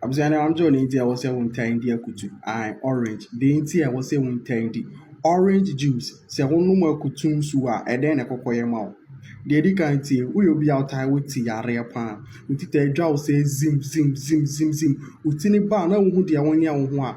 Abusua no wɔn deɛ nti a ɛwɔ sɛ wɔn taa di akutu ae orange deɛ nti a ɛwɔ sɛ wɔn taa di orange juice sɛ wɔn nom akutu nsu a ɛdɛn na ɛkɔkɔ yɛ ma wo deɛ edi kan tie woyɛ obi a ɔtaa wɔ ti yareɛ paa oti taa adwa wo sɛ zim zim zim zim zim oti ne ba a na wohu deɛ wɔn yɛ wo ho a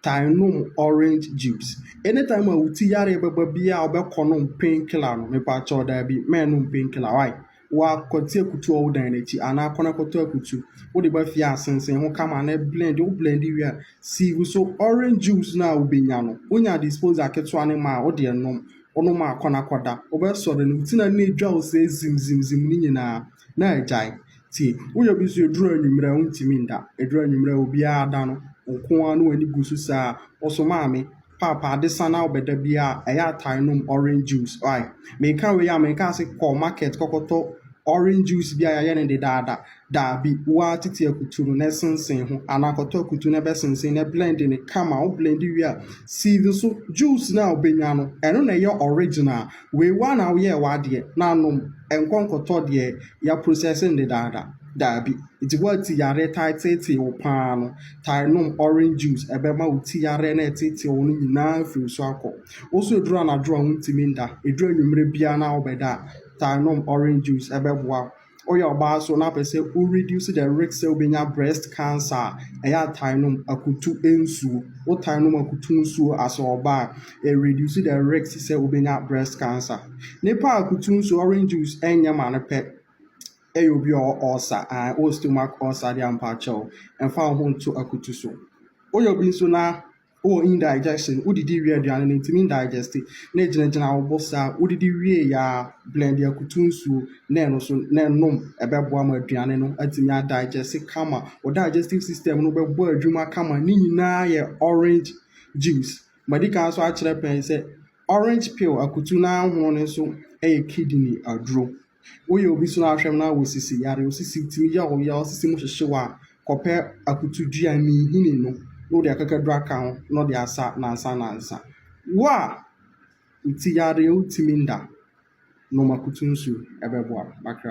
taa nom orange juice anytime a oti yareɛ bɛba biara a wɔbɛkɔ nom painkiller no mepa kyɛw daa bi mɛn nom painkiller why. Woakwati akutu a ɔwɔ wo dan no akyi anaa akɔnakɔtɔ akutu. Wode ba fie a, sensɛn ho kama na blend. Wo blend wie a, sieve so. Orange juice no a wubenya no, wonya disposal ketewa no ma a, wode nom. Wonom a, akɔnakɔda. Wobɛsɔre no, wo ti na no na edwa wo sɛɛ zimzimzim no nyinaa, na agyae. Tie, woyɛ bi nso eduru anwummere a, wuntumi nda. Eduru anwummere a, obiara ada no, wo nko ara na w'ani gu so saa. Wo so, maame, Paapa adesan a ɔbɛ da bia ɛyɛ atare nom orange juice wai meka wei a meka ase kɔ market kɔkɔtɔ orange juice bi a yɛayɛ ne dedaada daabi woa tete akutu no na ɛsensen ho anaa kɔtɔ akutu na ɛbɛsensen na blend ne kama wo blend wie a sieve so juice no a wobɛnya no ɛno na ɛyɛ original wei woa na woyɛ w'adeɛ na anom ɛnkɔ nkɔtɔ deɛ yɛaprocess ne dedaada. Dabi. Ntsi woatse yarɛ taa tseetsee wo paa no, taa nom orange juice, ɛbɛma wo tsi yarɛ na ɛtseetsee wo no nyina efi wo so akɔ. Wo so edur anadwo a wonntumi nnda, edur ewimbir biara na wobɛda a, taa nom orange juice, ɛbɛboa wo. Woyɛ ɔbaa so na apɛ sɛ wo reduce the risk sɛ wobenya breast cancer a, ɛyɛ a taa nom akutu nsuo. Wotaa nom akutu nsuo as ɔbaa a, ɛ reduce the risk sɛ wobenya breast cancer. Nipa a akutu nsuo, orange juice, nnyɛ ma no pɛ. Ɛyɛ obi a ɔwɔ ɔɔsa aa wowɔ stomach ɔɔsa deɛ a mpakyɛw mfa wo ho nto akutu so. Woyɛ obi nso na wowɔ indigestion, wodidi wie aduane no ntumi ndigeste na ɛgyinagyina wo bo saa, wodidi wieeɛ aa blɛnde akutu nsuo na ɛno so na nom ɛbɛboa ma aduane no atumi adigeste kama. Wo digestive system no bɛbɔ adwuma kama. Ne nyinaa yɛ orange juice. Madi kan nso akyerɛ pɛn sɛ orange peel akutu no ara hono no nso yɛ kidney aduro. Woyɛ obi so ara hwɛm na wosisi yare, wosisi tumi yaw wo yaw, wosisi mu hyehye wo a, kɔpɛ akutudua, nnihini no na wode akakaduru aka ho na ɔde asa nansa nansa. Wo a wo ti yare, wotumi nda, nom akutu nsu, ɛbɛboa wo. Makra.